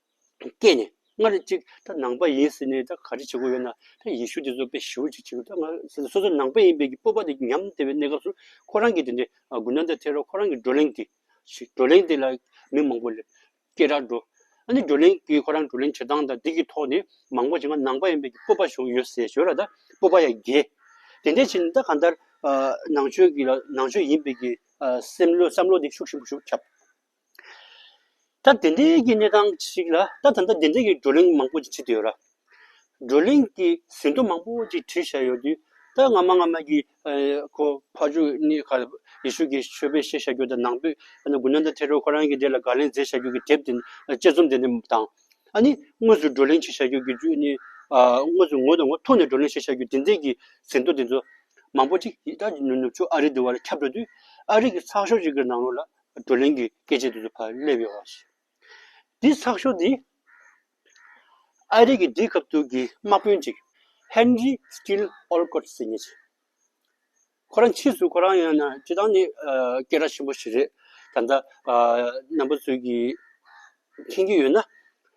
སྐད་ནས་སྔར་གཅིག་ད་ནང་པ་ཡིན་ཟེར་ནས་ད་ག་རེ་བྱེད་དགོས་ཡོད་ན་ད་ཡེ་ཤུ་དེ་ཚོ་དཔེ་ཞིབ་འཇུག་བྱེད་དགོས་ད་སོ་སོ་ནང་པ་ཡིན་པའི་སྤོབས་པ་དེ་ཉམས་བདེ་བའི་གནས་སྐབས་སུ་ཁོ་རང་གིས་དེ་འདྲའི་དགུན་ཟླ་འདིར་ཐལ་བར་ཁོ་རང་གི་བགྲོ་གླེང་དེ་ཞིག་བགྲོ་གླེང་དེ་ལ་མི་མང་པོ་ལས་སྐད་གྲགས་འགྲོ། ཨ་ནི་བགྲོ་གླེང་གི་ཁོ་རང་བགྲོ་གླེང་བྱེད་སྟངས་དང་འདི་གི་ཐོག་ནས་མང་པོ་ཞིག་ང་ནང་པ་ཡིན་པའི་སྤོབས་པ་བྱུང་ཡོད་ཟེར་ཞོར་ལ་ད་སྤོབས་པ་ཡང་རྒྱས། དེ་འདྲའི་ཕྱིར་ད་གང་ལྟར་ནང་ཆོས་ཀྱི་ལ་ནང་ཆོས་ཡིན་པའི་གི་སེམས་བློ་བསམ་བློ་དེ་ཤུགས་ཆེན་པོ་ཞུགས་ཁྱབ། ད་དེ་འདྲའི་གི་གནས་སྟངས་ཤིག་ལ་ད་ད་ལྟ་དེ་འདྲའི་གི་བགྲོ་གླེང་མང་པོ་ཅིག་བྱེད་དུ་ཡོད་ར། བགྲོ་གླེང་གི་ཟིན་ཐོ་མང་པོ་ཅིག་བྲིས་བཞག་ཡོད་དུས་ད་སྔ་མ་སྔ་མ་གི་ཁོ་ཕ་ཆོས་གཉིས་ཁ་ལ་ཡེ་ཤུ་གི་ཆོས་དཔེ་བཤད་བཞག་རྒྱུ་དང་ནང་པོས་དགུན་ན་ད་ཐེ་རོ་ཁོ་རང་གི་འདྲེ་ལ་དགག་ལན་མཛད་བཞག་རྒྱུ་གི་དེབ་དེ་དཔྱད་རྩོམ་དེ་འདྲ་དང། ཨ་ནི་དངོས་སུ་བགྲོ་གླེང་བྱེད་བཞག་རྒྱུ་གི་རྒྱུ་ནི་དངོས་སུ་ངོ་དང་ངོ་ཐུག་ནས་བགྲོ་གླེང་བྱེད་བཞག་རྒྱུ་དེ་འདྲའི་གི་ཟིན་ཐོ་དེ་ཚོ་མང་པོ་ཅིག་ད་ནུབ་ཕྱོགས་ཨ་རི་དེ་བ་ལ་ཁྱབ་འགྲོ་དུས་ཨ་རི་གི་ཚགས་ཤོག་ཅིག་གི་ནང་རོལ་ལ་བགྲོ་གླེང་གི་སྐད་ཆའི་དུས་ཚོད་ཕར་སླེབས་ཡོད་པ་ཞིག་རེད། དེའི་ཚགས་ཤོག་དེ་ཨ་རིག་གི་རྒྱལ་ཁབ་དུ་གི་དམག་དཔོན་གཅིག Henry Steele Olcott ཟེར་ངེས་རེད། ཁོ་རང་ཕྱིས་སུ་ཁོ་རང་ཡང་ན་སྤྱི་བཏང་ནས་སྐད་གྲགས་ཆེན་པོ་ཞིག་རེད། ད་ལྟ་ནམ་པ་ཚོས་ཀྱིས་མཁྱེན་གྱི་ཡོད་ན།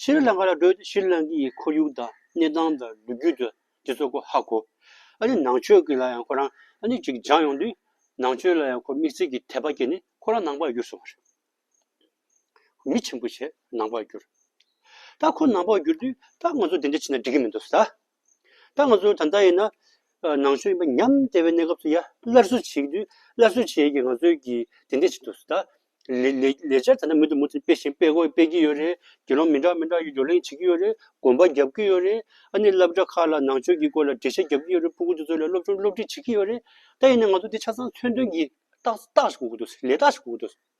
ཤི་རི་ལངྐ་ལ་བགྲོད་དེ་ཤི་རི་ལངྐ་ཡི་ཁོར་ཡུག་དང་གནས་སྟངས་དང་ལུས་རྒྱུད་དུ་དེ་ཚོ་ཁོ་ཧ་གོ། ཨ་ནི་ནང་ཆོས་ཀྱི་ལ་ཡང་ཁོ་རང་ཨ་ནི་ཅིག་སྦྱངས་ཡོང་དུས། ནང་ཆོས་ལ་ཡང་ཁོ་དམིགས་བསལ་གྱི་དད་པ་སྐྱེས་ནས་ཁོ་རང་ནང་པར་གྱུར་སོང་བ་རེད། མི་ཆེན་པོ་ཞིག་ནང་པར་གྱུར། ད་ཁོ་ནང་པར་གྱུར་དུས་ད་ང་ཚོ་དེ་འདྲ་བྱས་ན་འགྲིག་གི་མི་འདུག་ཟ། ད་ང་ཚོ་ད་ལྟ་ཡིན་ན་ནང་ཆོས་ཡིན་པ་ཉམས་བདེ་བའི་གནས་སྐབས་སུ་ཡ་སླར་གསོ་བྱེད་ཀྱི་དུས་སླར་གསོ་བྱེད་ཀྱི་ང་ཚོའི་ཀྱི་དེ་འདྲས་ཆེ་འདུག་ཟེར་ད། ལས་འཆར་ད་ལྟ་མུ་མཐུད་མུ་མཐུད་སྤེལ་བཞིན་སྤེལ་དགོས་སྤེལ་གྱི་ཡོད་རེད་དགེ་སློང་མི་འདྲ་མི་འདྲ་ཡོད་བགྲོ་གླེང་བྱེད་ཀྱི་ཡོད་རེད་དགོན་པ་བརྒྱབ་ཀྱི་ཡོད་རེད་ཨ་ནི་བསླབ་གྲྭ་ཁག་ལ་ནང་ཆོས་ཀྱི་སྐོར་ལ་འགྲེལ་བཤད་བརྒྱབ་ཀྱི་ཡོད་རེད་སྤུ་གུ་དེ་ཚོ་ལ་སློབ་སྦྱོང་སློབ་ཁྲིད་བྱེད་ཀྱི་ཡོད་རེད་ད་ཡིན་ན་ང་ཚོ་འདི་ཆ་ཚང་མཚོན་དོན་གྱི་རྟགས་རྟགས་ཞིག་གོ་གི་འདུག་ཟེར་ལས་རྟགས་ཞིག་གོ་གི་འདུག་ཟེར།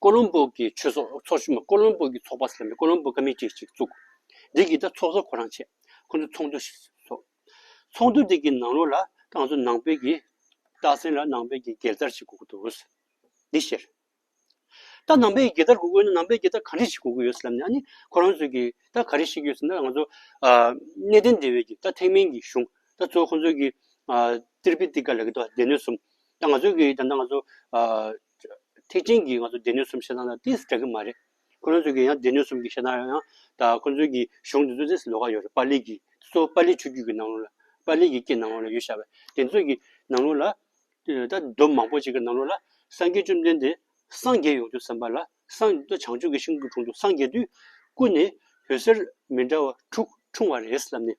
ཀོ་ལོམ་པོ་གི་ཆོས་ཚོགས་ཚོགས་ཆུང་མ་ཀོ་ལོམ་པོ་གི་ཚོགས་པ་ཟེར་བའི་ཀོ་ལོམ་པོ་ཀ་མི་ཏི་ཞིག་བཙུགས། འདི་གིས་ད་ཚོགས་གཙོ་ཁོ་རང་བྱས། ཁོ་ཚོས་ཚོགས་འདུ་ཞིག་ཚོགས། ཚོགས་འདུ་དེ་གི་ནང་ལོགས་ལ་རྐང་ཚོ་ནང་པའི་གི་སྟག་སེང་ལ་ནང་པའི་གི་རྒྱལ་དར་ཞིག་བསྒུགས་འདུག། འདི་བཤད། ད་ནང་པའི་གི་རྒྱལ་དར་བསྒུགས་ཡོད་ན་ནང་པའི་གི་རྟགས་ག་རེ་ཞིག་བསྒུགས་ཀྱི་ཡོད་ཟེར་ལབ་ནས་ཨ་ནི་ཁོ་རང་ཚོས་གི་རྟགས་ག་རེ་ཞིག་ཡོད་ཟེར་ན་ང་ཚོ། གནས་བརྟན་སྡེ་བའི་གི་རྟགས་ཐེག་དམན་གྱི་གཞུང་ད་ཚོ་ཁོ་ཚོའི་གི། ཏིར་པི་ཏི་ཀ་ལ་གི་ཏོ་སྡེ་སྣོད་གསུམ། ད་ང་ཚོའི་གི་ད་ནང་ང་ཚོ། ཐེག་ཆེན་གྱི་ང་ཚོ་སྡེ་སྣོད་གསུམ་བཤད་སྟངས་དང་དེ་འདྲ་གི་མ་རེད། ཁོ་རང་ཚོས་ཀྱི་ཡང་སྡེ་སྣོད་གསུམ་གྱི་བཤད་སྟངས་ཡང་ད་ཁོ་ཚོའི་གྱི་གཞུང་དེ་ཚོ་དེ་ལོགས་ཀ་ཡོད་རེད་པཱ་ལི་གྱི་གཙོ་བོ་པཱ་ལི་ཆོས་བརྒྱུད་ཀྱི་ནང་ལོགས་ལ་པཱ་ལི་ཡི་གེ་ནང་ལོགས་ལ་ཡོད་ཤག་པས་དེ་ཚོ་གྱི་ནང་ལོགས་ལ་ད་མདོ་མང་པོ་ཅིག་གི་ནང་ལོགས་ལ་སངས་རྒྱས་བཅོམ་ལྡན་འདས་སངས་རྒྱས་ཡོང་དུས་བསམ་པ་ལ་སངས་ད་བྱང་ཆུབ་ཀྱི་ཤིང་གི་དྲུང་དུ་སངས་རྒྱས་དུས་སྐུ་ནི་འོད་ཟེར་མི་འདྲ་བ་དྲུག་འཁྲུངས་བ་རེད་ལབ་ནས།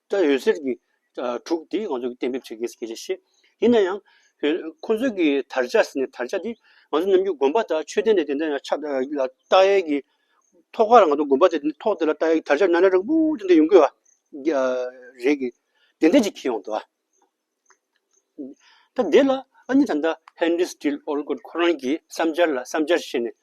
ལྟར་འོད་ཟེར་གྱི་དྲུག་དེ་ང་ཚོས་གཏན་འབེབས་བྱེད་དགོས་ཀྱི་རེད། ཡིན་ན་ཡང། ཁོ་ཚོས་ཀྱི་དར་ཆ་ཟེར་ནས་དར་ཆ་དེ་ང་ཚོ་རྣམས་ཀྱི་དགོན་པ་དང་ཆོས་སྡེ་ནས་དེ་འདྲ་ཡང་ཆགས་ལ་བཏགས་ཡས་ཀྱི། ཐོག་ཁ་ལ་ང་ཚོ་དགོན་པ་ཟེར་དེ་ཐོག་དེ་ལ་བཏགས་ཡས་ཀྱི་དར་ཆ་ནར་ནར་རིང་པོ་དེ་འདྲ་ཡོང་གི། རེད་ཀྱི། དེ་འདྲ་ཅིག་ཁེལ་ཡོང་དུ་ཨ། ད་འདི་ལ་ཨ་ནི་ད་ལྟ་ཧན་རིས་ཏིལ་ཨོ་ལ་ཁོ་རང་གི་བསམ་འཆར་ལ་བསམ་འཆར་བཤད་ནས་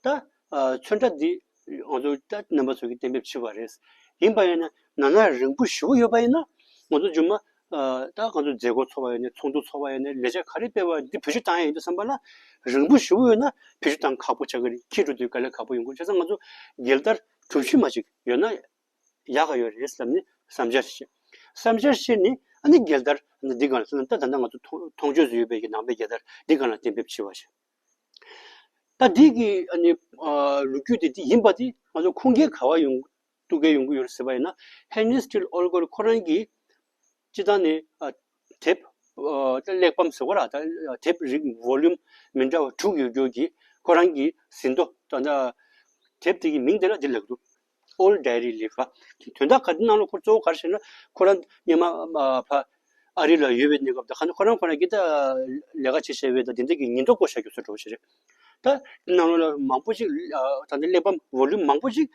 ད་མཚོན་ཁྲ་འདི་ང་ཚོ་ད་རྣམ་པ་ཚོས་ཀྱི་གཏན་འབེབས་བྱས་པ་རེད། ཡིན་པ་ཡིན་ན་ནང་ན་རིང་པོ་ཞི་བོ་ཡོད་པ་ཡིན་ན་ང་ཚོ་ཇོ་མ་ད་ང་ཚོ་མཛད་སྒོ་ཚོགས་པ་ཡིན་ནས་ཚོགས་འདུ་ཚོགས་པ་ཡིན་ནས་ལས་བྱ་ག་རེ་སྤེལ་བ་འདི་བོད་ཆུ་བཏང་ཡ་ཡིན་འདུག་བསམ་པ་ན་རིང་པོ་ཞི་བོ་ཡོད་ན་བོད་ཆུ་བཏང་ཁག་པོ་ཆགས་ཀྱི་རེད་ཁྱེད་འགྲོ་དུས་དཀའ་ལས་ཁག་པོ་ཡོང་གི་རེད་བྱས་ཙང་ང་ཚོ་སྒེར་ལྟར་གྲུབ་ཆུ་མ་ཞིག་ཡོད་ན་ཡག་ག་ཡོད་རེད་བསམ་ནས་བསམ་འཆར་བཤད། བསམ་འཆར་བཤད་ནས་ཨ་ནི་རྒྱལ་དར་འདི་གང་ལ་བརྩི་ན་ད་ད་ནངས་ང་ཚོ་མཐོང་ཆོས་སུ་ཡོད་པའི་ནང་པའི་རྒྱལ་དར་འདི་གང་ལ་གཏན་འབེབས་བྱས་བ་བཤད། ད་འདི་གི་ཨ་ནི་ལོ་རྒྱུས་དེ་འདི་ཡིན་པ་དེ་ང་ཚོ་ཁུངས་སྐྱེལ་ག་བ་ཡོང་གཏུགས་གལ་ཡོང་གི་ཡོད་རེད་ཟེར་བ་ཡིན་ན་ཧན་ནེ་སི་ཏིལ་ཨོལ་གོར་ཁོ་རང་གིས་སྤྱི་བཏང་ནས་དེབ་གླེགས་བམ་ཟེར་བ་ར་དེབ་རིགས volume མི་འདྲ་བ་དྲུག་ཡོད་རྒྱུ་གྱིས་ཁོ་རང་གིས་ཟིན་ཐོ་དེབ་དེ་གི་མིང་དེ་ལ་འདི་ལེགས་འདུག་ཨོལ་རྡའི་རིགས་ལས་ཁ། དོན་དག་ག་དེ་རྣམས་ལ་ཁོ་གཙོ་བོ་ག་རེ་བྱས་ན། ཁོ་རང་སྙེ་མ་ཕ། ཨ་རི་ལ་ཡོད་པའི་གནས་སྐབས་དང་ཁ་ན་ཁོ་རང་ཁོ་ན་གི་ད། ལས་ཀ་བྱེད་བྱས་པས་ད་དེ་འདྲ་གི་ཉིན་ཐོ་བཀོད་བཞག་རྒྱུ་ཚོད་འགྲོ་བ་ཞིག་རེད། ད། དེ་རྣམས་ལ་མང་པོ་ཞིག་ད་ལྟ་གླེགས་བམ volume མང་པོ་ཞིག།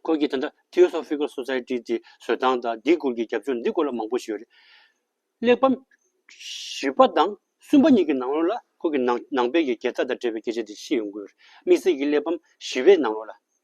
ཁོང་གིས་ད་ལྟ Theosophical Society དེ་བཟོས་སྟངས་དང་འདིའི་སྐོར་གྱི་རྒྱབ་ལྗོངས་འདི་སྐོར་ལ་མང་པོ་ཞིག་ཡོད་རེད། གླེགས་བམ། བཞི་པ་དང་གསུམ་པ་གཉིས་ཀྱི་ནང་ལོགས་ལ་ཁོང་གིས་ནང་ནང་པའི་ཡི་གེ་ཚ་དང་འབྲེལ་བའི་སྐད་ཆ་དེ་ཤེས་ཡོང་དགོས་རེད་དམིགས་བསལ་གྱི་གླེགས་བམ་བཞི་བའི་ནང་ལོགས་ལ།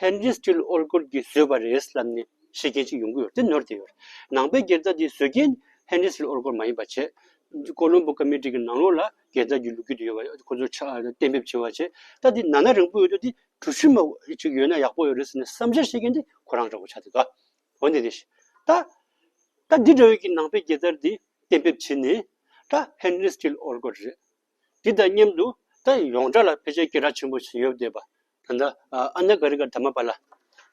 ཧན་རིས་ཀྱིས་ཨོ་སྒོར་གྱིས་བཟོས་པ་རེད་ལབ་ནས་བཤད་མཁན་ཅིག་ཡོང་གི་ཡོད་དེ་ནོར་དེ་ཡོད། ནང་པའི་སྒེར་རྩ་དེ་བཟོས་རྐྱེན་ཧན་རིས་ཀྱིས་ཨོ་སྒོར་མ་ཡིན་པ་བྱས། ཀོ་ལོམ་པོ་ཀ་མི་ཀྲིག་གི་ནང་ལོགས་ལ་སྒེར་རྩ་རྒྱུ་ལུགས་རྒྱུ་དེ་ཡོད་པ་ཁོ་ཚོར་གཏན་འབེབས་བྱས་པ་བྱས། ད་དེ་ནང་ན་རིང་པོ་ཡོད་དུས་དེ་གྲུ་བཞི་མ་ཅིག་ཡོད་ན་ཡག་པོ་ཡོད་རེད་ཟེར་ནས་བསམ་འཆར་བཤད་མཁན་དེ་ཁོ་རང་རེད་གོ་ཆ་དེ་ག། འོན་ཏེ་དེ་ད། ད་འདི་འདྲ་ཡོད་ཀྱི་ནང་པའི་སྒེར་རྩར་དེ་གཏན་འབེབས་བྱས་ནས། ད་ཧན་རིས་ཀྱིས་ཨོ་སྒོར་རེད། འདི་དང་མཉམ་དུ་ད་ཡོངས་གྲགས་ལ་ཕལ་ཆེར་སྐད་གྲགས་ཆེན་པོ་ཞིག་ཡོད་བསྡད་པ། ད་ལྟ་ཨ་ན་ཀ་རི་ཀར་དར་མ་པཱ་ལ།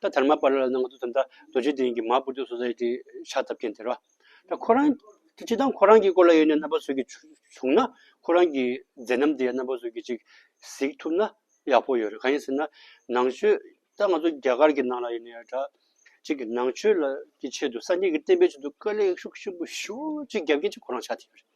ད་དར་མ་པཱ་ལ་ལ་ནང་དུ་ད་ལྟ་རྡོ་རྗེ་གདན་གྱི་མ་བུ་ཏུ་སོ་སའི་དེ་ཤག་ཐབས་མཁན་དེ་རོ། ད་ཁོ་རང་གི་ཅི་ལྟར་ཁོ་རང་གི་སྐོར་ལ་ཡོད་ནས་རྣམ་པ་བཟོས་ཀྱིས་བྱུང་ན་ཁོ་རང་གི་མཛད་རྣམ་དེ་ཡང་རྣམ་པ་བཟོས་ཀྱིས་ཅིག་གཟིགས་ཐུབ་ན་ཡག་པོ་ཡོད་རེད་གང་ཡིན་ཟེར་ན་ནང་ཆོས་ད་ང་ཚོ་རྒྱ་གར་གྱི་ནང་ལ་ཡོད་ནས་ད་ཅིག་གིས་ནང་ཆོས་ལ་གྱི་ཆེད་དུ་སངས་རྒྱས་ཀྱི་བསྟན་པའི་ཆེད་དུ་དཀའ་ལས་ཤུགས་ཆེན་པོ་ཤུགས་ཅིག་རྒྱབ་མཁན་གཅིག་ཁོ་རང་ཆགས་ཐིག་ཡོད་རེད།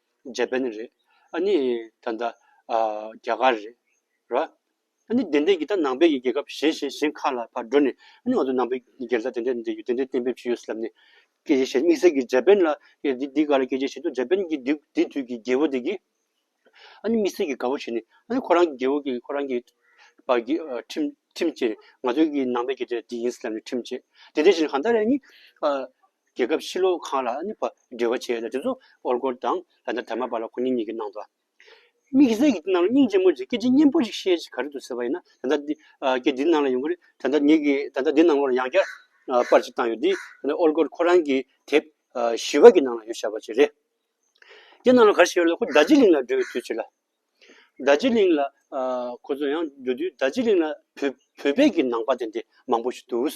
འཇར་པན་རེད། ཨ་ནི་ད་ལྟ་རྒྱ་གར་རེད། ར། ཨ་ནི་དེ་འདྲས་ཀྱི་ད་ནང་པའི་ཀྱི་རྒྱལ་ཁབ་གཞན་གཞན་གཞན་ཁག་ལ་བར་འགྲོ་ནས་ཨ་ནི་ང་ཚོ་ནང་པའི་རྒྱལ་ས་དེ་འདྲས་དེ་འདྲས་ཡོད་དེ་འདྲས་གཏན་འབེབས་བྱས་ཡོད་སྲིད་ལབ་ནས། སྐད་ཆ་བཤད་དམིགས་བསལ་གྱི་འཇར་པན་ལ་ཡེ་འདི་འདི་ག་ལ་སྐད་ཆ་བཤད་དུས་འཇར་པན་གྱི་དུས་དེ་དུས་ཀྱི་རྒྱལ་བོ་དེ་གིས། ཨ་ནི་དམིགས་བསལ་གྱི་དགའ་བོ་བྱས་ནས་ཨ་ནི་ཁོ་རང་གི་རྒྱལ་བོ་གིས་ཁོ་རང་གི་བར་གྱི་ཁྲིམས་ཁྲིམས་བཅས་ནས་ང་ཚོའི་ཀྱི་ནང་པའི་ཀྱི་དེ་འདྲས་འདི་ཡིན་སྲིད་ལབ་ནས་ཁྲིམས་བཅས། དེ་འདྲས་བྱས་ནས་གང་ལྟར་ཨ་ནི། རྒྱལ་ཁབ་ཕྱི་ལོགས་ཁང་ལ་ནི་བ་འབྲེལ་བ་བྱས་ལ་དེ་ཚོ་ཨོལ་གོར་དང་ལ་ན་དར་མ་བ་ལ་ཁོ་ནི་གཉིས་ཀྱི་ནང་དུ། དམིགས་བསལ་གྱི་དེ་རྣམས་ལ་སྙིང་རྗེ་མོ་ཅིག་སྐད་ཅིག་སྙན་པོ་ཅིག་བཤད་ཅིག་ག་རེ་འདུག་ཟེར་བ་ཡིན་ན་ད་ལྟ་འདི་སྐད་འདི་ནང་ལ་ཡོང་གི་རེད་ད་ལྟ་ངེད་ཀྱིས་ད་ལྟ་འདི་ནང་ལོགས་ལ་ཡང་བསྐྱར་པར་ཅིག་བཏང་ཡོད་དེ། ཨོལ་གོར་ཁོ་རང་གི་དེབ་བཞི་བ་ཀྱི་ནང་ལ་ཡོད་ཞེས་པ་ཅིག་རེད། དེ་ནང་ལ་ག་རེ་བྱས་ཡོད་ལ་ཁོ་རྡ་རྗེ་གླིང་ལ་འགྲོ་བའི་དུས་ཅིག་ལ། རྡ་རྗེ་གླིང་ལ་ཁོ་ཚོ་ཡང་འགྲོ་དུས་རྡ་རྗེ་གླིང་ལ་བོད་བོད་པའི་གྱི་ནང་པ་དེ་འདྲ་མང་པོ་ཞིག་འདུག།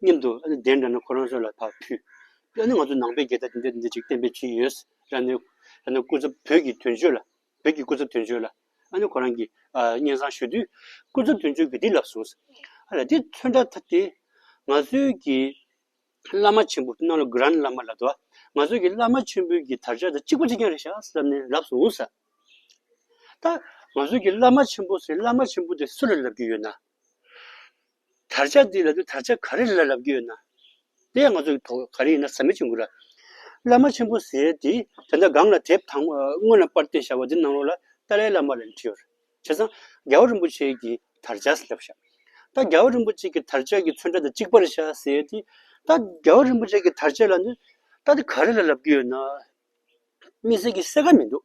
སྙམ་དུ་ཨ་ནི་བདེན་འདྲ་ན་ཁོ་རང་ཚོ་ལ་ད་ཕུད། ཨ་ནི་ང་ཚོ་ནང་པའི་རྒྱལ་དར་འདི་འདྲ་འདི་འདྲ་ཅིག་བསྟན་པའི་གྱིན་ཡོད། ར་ནི་སྐུ་ཚབ་བོད་ཀྱི་དོན་གཅོད་ལ་བོད་ཀྱི་སྐུ་ཚབ་དོན་གཅོད་ལ་ཨ་ནི་ཁོ་རང་གིས་སྙན་བཟང་ཞུ་དུས་སྐུ་ཚབ་དོན་གཅོད་ཀྱིས་འདི་ལབ་སོང། ཨ་ལ་འདི་ཚོད་འདྲ་ཐབས་དེ། ང་ཚོའི་གྱི་བླ་མ་ཆེན་པོ་སྣང་ལོ Grand བླ་མ་ལ་དྭ་ང་ཚོའི་གྱི་བླ་མ་ཆེན་པོའི་གྱི་དར་ཆ་དང་གཅིག་པ་གཅིག་རྐྱང་རེད་ཤག་བསམ་ནས་ལབ་སོང། ད་ང་ཚོའི་གྱི་བླ་མ་ཆེན་པོ་ཟེར་བླ་མ་ཆེན་པོ་དེ་སུ་ལ་ལབ་ཀྱི་ཡོད་ན། དར་ཆ་འདི་ལ་དུས་དར་ཆ་ག་རེ་ལ་ལབ་ཀྱི་ཡོད་ན། དེ་ཡང་ང་ཚོ་གི་བོད་ག་རེ་ཡིན་ན་ཟ་མའི་ཆུ་འགོ་ར། བླ་མ་ཆེན་པོ་ཟེར་དེ་དེ་འདྲ་སྒང་ལ་དེབ་དང་དངོས་ལ་པར་ཏི་ཞག་པ་འདི་ནང་ལོགས་ལ་ཏཱ་ལའི་བླ་མ་ལ་འདྲི་ཡོད། བྱས་ཙང་རྒྱལ་བ་རིན་པོ་ཆེ་གི་དར་ཆ་ཟླབ་བཞག་ད་རྒྱལ་བ་རིན་པོ་ཆེ་གི་དར་ཆ་གི་ཚོན་ཁྲ་ད་གཅིག་པར་བཞག་ཟེར་དེ་ད་རྒྱལ་བ་རིན་པོ་ཆེ་གི་དར་ཆ་ལ་ནི་ད་དེ་ག་རེ་ལ་ལབ་ཀྱི་ཡོད་ན། དམིགས་བསལ་གྱི་གསལ་ཁ་མི་འདུག།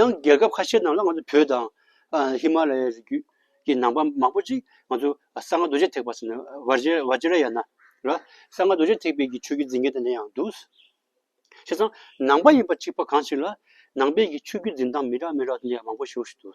ཡང་རྒྱལ་ཁབ་ཁ་ཤས་ནང་ལ་ང་ཚོ་བོད་དང། ཧི་མ་ལ་ཡའི་རི་རྒྱུད་ཀྱི་ནང་པ་མང་པོ་ཅིག་ང་ཚོ་གསང་སྔགས་རྡོ་རྗེ་ཐེག་པ་ཟེར་ནས Vajrayana ལ་གསང་སྔགས་རྡོ་རྗེ་ཐེག་པའི་ཆོས་བརྒྱུད་འཛིན་མཁན་དེ་འདྲ་ཡང་འདུག། བྱས་ཙང་ནང་པ་ཡིན་པ་གཅིག་པ་གང་ཞིག་ལ་ནང་པའི་ཆོས་བརྒྱུད་འཛིན་སྟངས་མི་རག་མི་རག་དེ་འདྲ་ཡང་མང་པོ་ཞིག་འདུག།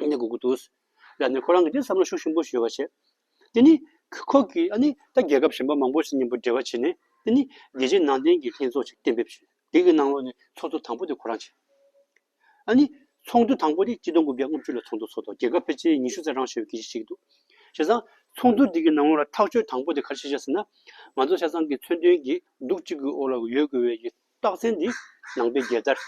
ནས་སྒུག་གི་འདུག། ལར་ནས་ཁོ་རང་གིས་དེ་བསམ་བློ་ཤུགས་ཆེན་པོ་ཞུ་བར་བྱེད། དེ་ནི། ཁོ་གིས་ཨ་ནི་ད་རྒྱལ་ཁབ་གཞན་པ་མང་པོ་ཞིག་གཉེན་པོ་འབྲེལ་བ་བྱས་ནས་དེ་ནི་རྒྱལ་སྤྱིའི་ནང་བསྟན་གྱི་ལྷན་ཚོགས་ཤིག་གཏན་འབེབས་བྱས། དེ་གི་ནང་ལོགས་ནས་ཚོགས་འདུ་དང་པོ་དེ་ཁོ་རང་བྱས། ཨ་ནི། ཚོགས་འདུ་དང་པོ་དེ་སྤྱི་སྟོང་དགུ་བརྒྱ་ལྔ་བཅུ་ལ་ཚོགས་འདུ་ཚོགས་ཐོག་རྒྱལ་ཁབ་ཕལ་ཆེར་ཉི་ཤུ་རྩ་གྲངས་ཤོར་བའི་གལ་ཆེ་ཞིག་འདུག། བྱས་ཙང། ཚོགས་འདུ་དེ་གི་ནང་ལོགས་ལ་ཐག་གཅོད་དང་པོ་དེ་ག་རེ་བྱས་ཟེར་ན། ང་ཚོ་བྱས་ཙང་གི་མཚོན་དོན་གྱིས་སྡུག་གཅིག་གི་འོག་ལ་ཡོད་དགོས་པའི་ཡོད། རྟགས་མཚན་ནི། ནང་པའི་རྒྱལ་དར།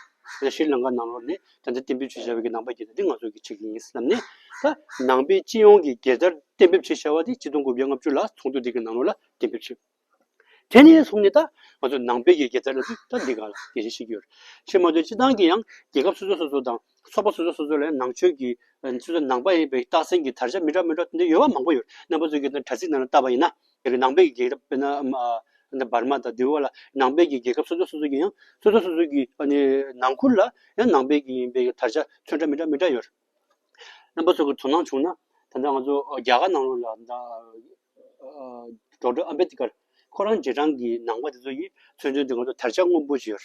ཤྲཱི་ལང་ཀ་ནང་ལོགས་ནས་དར་མདའ་གཏན་འབེབས་བྱེད་བྱ་བའི་ནང་པ་རྒྱལ་དར་འདི་ང་ཚོ་གི་ཆེད་ཀྱི་ཡིན་བསམ་ནས། ད་ནང་པའི་སྤྱི་ཡོངས་ཀྱི་རྒྱལ་དར་གཏན་འབེབས་བྱེད་བྱ་བ་དེ་སྤྱི་སྟོང་དགུ་བརྒྱ་ལྔ་བཅུ་ལ་ཚོགས་འདུ་འདི་གི་ནང་ལོགས་ལ་གཏན་འབེབས་བྱས། དེ་ནས་བཟུང་ནས་ད་ང་ཚོ་ནང་པའི་རྒྱལ་དར་ལ་འདི་ད་འདི་ག་ལ་དེ་བཞིན་ཤིག་ཡོད། ཕྱིར་མ་ལྟོས་སྤྱི་བཏང་གི་ཡང་རྒྱལ་ཁབ་སོ་སོ་སོ་སོ་དང་ཚོགས་པ་སོ་སོ་སོ་སོ་ལ་ཡང་ནང་ཆོས་ཀྱི། ནང་པ་ཡིན་པའི་རྟགས་མཚན་གྱི་དར་ཆ་མི་འདྲ་མི་འདྲ་དེ་འདྲ་ཡོད་པ་མང་པོ་ཡོད་རྣམ་པ་ཚོས་ཀྱི་དྲ་ཚིགས་ནང་ལ་བཏབ་པ་ཡིན་ན། དེ་གི་ནང་པའི་རྒྱལ་ཁབ་དཔེར་ན་འབར་མ་དང་འདི་བ་ལ་ནང་པའི་རྒྱལ་ཁབ་སོ་སོ་སོ་སོ་གི་ཡང་སོ་སོ་སོ་སོ་གི་ནང་ཁུལ་ལ་ཡང་ནང་པའི་ཡིན་པའི་དར་ཆ་མཚོན་འདྲ་མི་འདྲ་མི་འདྲ་ཡོད། རྣམ་པ་ཚོ་གི་དོ་སྣང་བྱུང་ན་ད་ལྟ་ང་ཚོ་རྒྱ་གར་ནང་ལ་ད Doctor Ambedkar ཁོ་རང་རྗེས་འབྲང་གི་ནང་པ་དེ་ཚོ་ཡིས་མཚོན་དོན་དེ་ང་ཚོ་དར་ཆ་སྔོན་པོ་བྱས་ཡོད།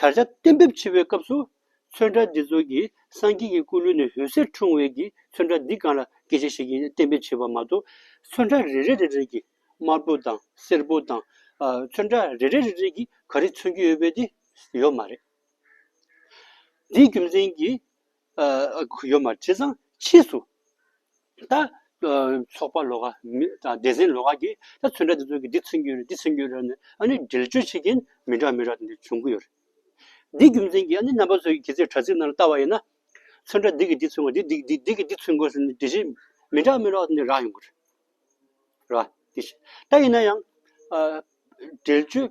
དར་ཆ་གཏན་འབེབས་བྱེད་པའི་སྐབས་སུ། ཚོན་ཁྲ་འདི་ཚོ་གི་སངས་རྒྱས་ཀྱི་སྐུ་ལུས་ནས་འོད་ཟེར་འཁྲུངས་བས་ཀྱི་ཚོན་ཁྲ་འདི་གང་ལ་དགེ་བྱེད་ཞིག་ཡིན་གཏན་འབེབས་བྱེད་པ་མ་གཏོགས། ཚོན་ཁྲ་རེ་རེ་རེ་རེ་གྱིས་དམར་པོ་དང་སེར་པོ་དང། ཚོན་ཁྲ་རེ་རེ་རེ་རེ་གྱིས་ག་རེ་མཚོན་གྱི་ཡོད་པས་དེ་ཡོད་མ་རེད། འདིའི་རྒྱུ་མཚན་གྱིས། ཨ། ཡོད་མ་དྲི་བཟང་ཕྱིས་སུ། ད། ཚོགས་པ་ལོ་ཀ། སྡེ་ཚན་ལོ་ཀ་གིས་ད་ཚོད་འདྲ་དེ་ཚོད་ཀྱིས་འདི་ཚོད་འགྱུར་རེད་འདི་ཚོད་འགྱུར་རེད་ནི་ཨ་ནི་འགྲེལ་བརྗོད་བྱེད་ཀྱིན་མི་འདྲ་མི་འདྲ་དེ་འདྲ་བྱུང་གི་ཡོད་རེད། འདི་རྒྱུ་མཚན་གྱིས་ཨ་ནི་རྣམ་པ་ཚོས་གི་ཚེ་དྲ་ཚིགས་ནང་ལ་ལྟ་བ་ཡིན་ན། ཚོད་འདྲ་འདི་གིས་འདི་ཚོད་འགོ་འདི་འདི་འདི་གིས་འདི་ཚོད་འགོ་ཟེར་ནི་དེ་བཞིན་མི་འདྲ་མི་འདྲ་བ་དེ་འདྲ་རག་ཡོང་གི་རེད། ར། དེ་བཞིན་ད་ཡིན་ན་ཡང། འགྲེལ་བརྗོད།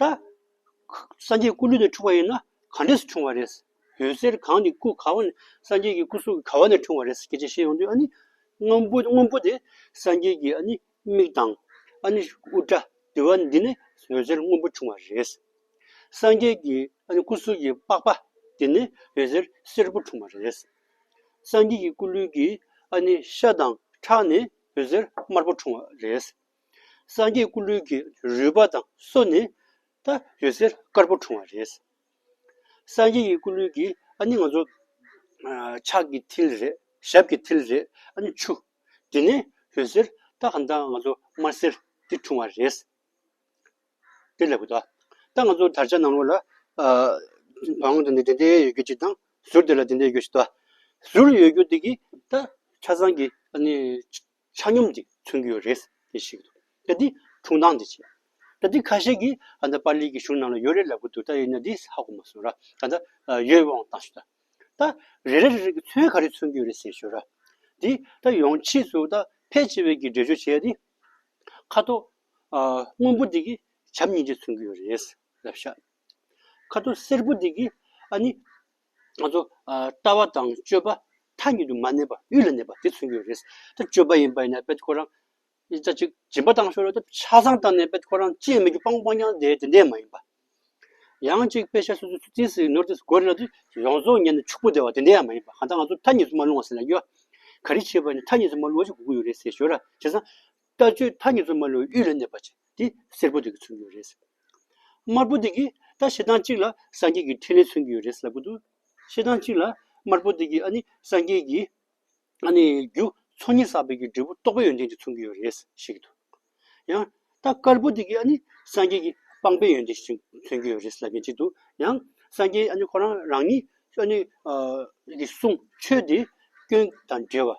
ད། སངས་རྒྱས་སྐུ་ལུས་ནས་འཁྲུངས་པ་ཡིན་ན་གང་འདྲས་སུ་འཁྲུངས་བ་རེད། འོད་ཟེར་གང་ནི་སྐུ་ག་བ་ནས་སངས་རྒྱས་ཀྱི་སྐུ་གཟུགས་ག་བ་ནས་འཁྲུངས་བ་རེད་སྐད་ཆ་བཤད་ཡོང་དུས་ཨ་ནི། སྔོན་པོ་སྔོན་པོ་དེ་སངས་རྒྱས་ཀྱི་ཨ་ནི་མིག་དང། ཨ་ནི་དབུ་སྐྲ་དེ་བ་འདི་ནི་འོད་ཟེར་སྔོན་པོ་འཁྲུངས་བ་རེད། སངས་རྒྱས་ཀྱི་ཨ་ནི་སྐུ་གཟུགས་ཀྱི་པགས་པ་དེ་ནི་འོད་ཟེར་སེར་པོ་འཁྲུངས་བ་རེད། སངས་རྒྱས་ཀྱི་སྐུ་ལུས་ཀྱི་ཨ་ནི་ཤ་དང་ཁྲག་ནི་འོད་ཟེར་དམར་པོ་འཁྲུངས་བ་རེད། སངས་རྒྱས་སྐུ་ལུས་ཀྱི་རུས་པ་དང་སོ་ནི་ད་ཡོད་ཟེར་དཀར་པོ་འཁྲུངས་བ་རེད། སངས་རྒྱས་ཀྱི་སྐུ་ལུས་ཀྱི་ཨ་ནི་ང་ཚོ་ཕྱག་གི་མཐིལ་རེད་ཞབས་ཀྱི་མཐིལ་རེད་ཨ་ནི་ཆུ་དེ་ནས་ཡོད་ཟེར་ད་གང་ལྟར་ང་ཚོ་དམར་སེར་དེ་འཁྲུངས་བ་རེད། དེ་ལས་གོ་ད་ད་ང་ཚོ་དར་ཆ་ནང་ལོགས་ལ་བང་དེ་འདི་འདི་ཡོད་རྒྱུ་གཅིག་དང་ཟུར་དེ་ལ་འདི་འདི་ཡོད་རྒྱུ་གཅིག་ཟུར་ཡོད་རྒྱུ་དེ་གིས་ད་ཆ་སངས་རྒྱས་ཨ་ནི། ཆ་སྙོམས་ཀྱིས་མཚོན་གྱི་ཡོད་རེད་ཅེས་བཤད་ཀྱི་འདུག་ད་དེ་ཁྱུང་ཐང་དུ་བྱས། ད་དེ་ཁ་ཤས་ཀྱིས་ཨ་མདའ་པཱ་ལིའི་གི་གཞུང་ནང་ལ་ཡོད་རེད་ལབ་ཀྱི་འདུག་ད་ཡིན་ན་དེ་ཧ་གོ་མ་སོང་ར། ད་ལྟ་ཡོད་དབང་བཏང་ཞུ་ད། ད་རེ་རེ་རེ་རེ་ཀྱི་མཚོན་ག་རེ་མཚོན་གྱི་ཡོད་རེད་ཟེར་ཞོར་ར། དེ་ད་ཡོང་ཕྱིས་སུ་ད་ཕལ་ཆེ་བས་ཀྱི་འགྲེལ་བརྗོད་བྱས་ཏེ། ཁ་དོག་སྔོན་པོ་དེ་ཀྱི་བྱམས་སྙིང་རྗེ་མཚོན་གྱི་ཡོད་རེད་ལབ་ཤག། ཁ་དོག་སེར་པོ་དེ་ཀྱི་ཨ་ནི། ང་ཚོ་ལྟ་བ་དང་སྤྱོད་པ་མཐའ་གཉིས་དུ་མ་གནས་པ་དབུས་ལ་གནས་པ་དེ་མཚོན་གྱི་རེད། ད་སྤྱོད་པ་ཡིན་པ་ཡིན་ན་དཔེ་ཁོ་རང་ཅི་ལྟ་ཅིག་སྦྱིན་པ་བཏང་ཤོག་ལ་ཆ་ཚང་བཏང་ནས་དཔེ་ཁོ་རང་ཅི་ཡང་མེད་རྒྱུ་སྤང་སྤང་རྐྱང་བསྡད་དེ་འདས་མ་ཡིན་པ། ཡང་ཅིག་དཔེ་ཆ་སོ་སོའི་ཚུལ་ཁྲིམས་ནོར་འདི་དགོས་རེད་ལ་ཡོངས་རྫོགས་ཉན་ནས་ཕྱུག་པོ་བསྡད་བ་དེ་འདས་ཡང་མ་ཡིན་པ་གང་ལྟར་ང་ཚོ་མཐའ་གཉིས་སུ་མ་ལྷུང་བ་ཟེར་ན་ཡོད། ག་རེ་བྱེད་པ་ནི་མཐའ་གཉིས་སུ་མ་ལྷུང་བ་ཞིག་དགོས་ཀྱི་ཡོད་རེད་ཟེར་ཞོར་ལ་བྱས་ཙང། ལྟ་སྤྱོད་མཐའ་གཉིས་སུ་མ་ལུས་གཡུལ་ལས་གནས་པ་ཅན་དེ་སེར་པོ་དེ་གི་མཚོན་གྱི་ཡོད་རེད། དམར་པོ་དེ་གི་ད་ཞེ་སྡང་གཅིག་ལ་སངས་རྒྱས་ཀྱི་ཕྲིན་ལས་མཚོན་གྱི་ཡོད་རེད་ཟེར་གི་འདུག་ཞེ་སྡང་གཅིག་ལ་དམར་པོ་དེ་གི་ཨ་ནི་སངས་རྒྱས་ཀྱི་ཨ་ནི་རྒྱུ་ཚོགས་གཉིས་བསགས་པའི་ཀྱི་འབྲས་བུ་རྟོགས་པའི་ཡོན་ཏན་དེ་མཚོན་གྱི་ཡོད་རེད་བཤད་ཀྱི་འདུག་ཡང་ད་དཀར་པོ་དེ་གི་ཨ་ནི་སངས་རྒྱས་ཀྱི་སྤངས་པའི་ཡོན་ཏན་ཞིག་མཚོན་གྱི་ཡོད་རེད་ཟེར་ལབ་ཀྱི་འདྲི་འདུག་ཡང་སངས་རྒྱས་ཨ་ནི་ཁོ་རང་རང་ཉིད་ཨ་ནི་གི་གསུང་ཆོས་དེ་སྐྱོན་དང་བྲལ་བ།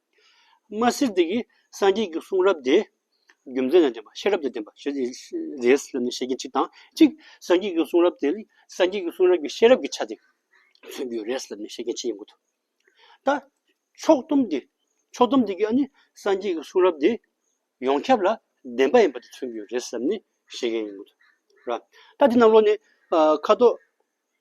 མ་སྲིད་དེ་གིས་སངས་རྒྱས་ཀྱི་གསུང་རབ་དེ་རྒྱུ་མཚན་ལ་བརྟེན་པ་ཤེས་རབ་ལ་བརྟེན་པ་ཞེས་རེས་བསླབ་ནས་བཤད་མཁན་གཅིག་དང་གཅིག་སངས་རྒྱས་ཀྱི་གསུང་རབ་དེ་ལས་སངས་རྒྱས་ཀྱི་གསུང་རབ་ཀྱི་ཤེས་རབ་ཀྱི་ཆ་དེ་མཚོན་རྒྱུའི་རེས་བསླབ་ནས་བཤད་མཁན་གཅིག་ཡིན་པ་དང། ད་ཕྱོགས་སྡོམ་དེ་ཕྱོགས་སྡོམ་དེ་གིས་ཨ་ནི་སངས་རྒྱས་ཀྱི་གསུང་རབ་དེ་ཡོངས་ཁྱབ་ལ་བདེན་པ་ཡིན་པ་དེ་མཚོན་རྒྱུའི་རེས་བསླབ་ནས་བཤད་མཁན་ཡིན་པ་དང། ད་འདི་རྣམས་ཀློག་ནས་ཁ་དོག་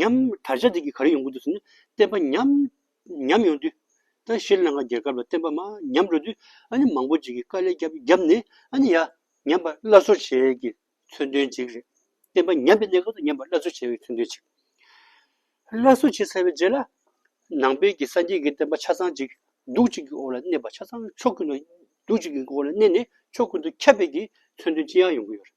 ཉམས། དར་ཆ་དེ་གིས་ག་རེ་ཡོང་གི་འདུག་ཟེར་ན། བསྟན་པ་ཉམས། ཉམས་ཡོང་དུས། ད་ཤི་ལང་ཀ་རྒྱལ་ཁབ་ལ་བསྟན་པ་མ་ཉམས་འགྲོ་དུས། ཨ་ནི་མང་པོ་ཅིག་གིས་དཀའ་ལས་བརྒྱབ་བརྒྱབ་ནས་ཨ་ནི་ཡ། ཉམས་པར་སླར་གསོ་བྱེད་ཀྱི་མཚོན་དོན་ཅིག་རེད། བསྟན་པ་ཉམས་པའི་གནས་སྐབས་སུ་ཉམས་པར་སླར་གསོ་བྱེད་ཀྱི་མཚོན་དོན་ཅིག། སླར་གསོ་བྱེད་ཟེར་བའི་རྗེས་ལ། ནང་པའི་གི་སངས་རྒྱས་ཀྱི་བསྟན་པ་ཆ་ཚང་ཅིག་གདུགས་གཅིག་གི་འོག་ལ་གནས་པ་ཆ་ཚང་ཕྱོགས་ཀུན་ཏུ། གདུགས་གཅིག་གི་འོག་ལ་གནས་ནས་ཕྱོགས་ཀུན་ཏུ་ཁྱབ་སྤེལ་གྱི་མཚོན་དོན་ཅི་ཡང་ཡོང་གི་ཡོད་རེད།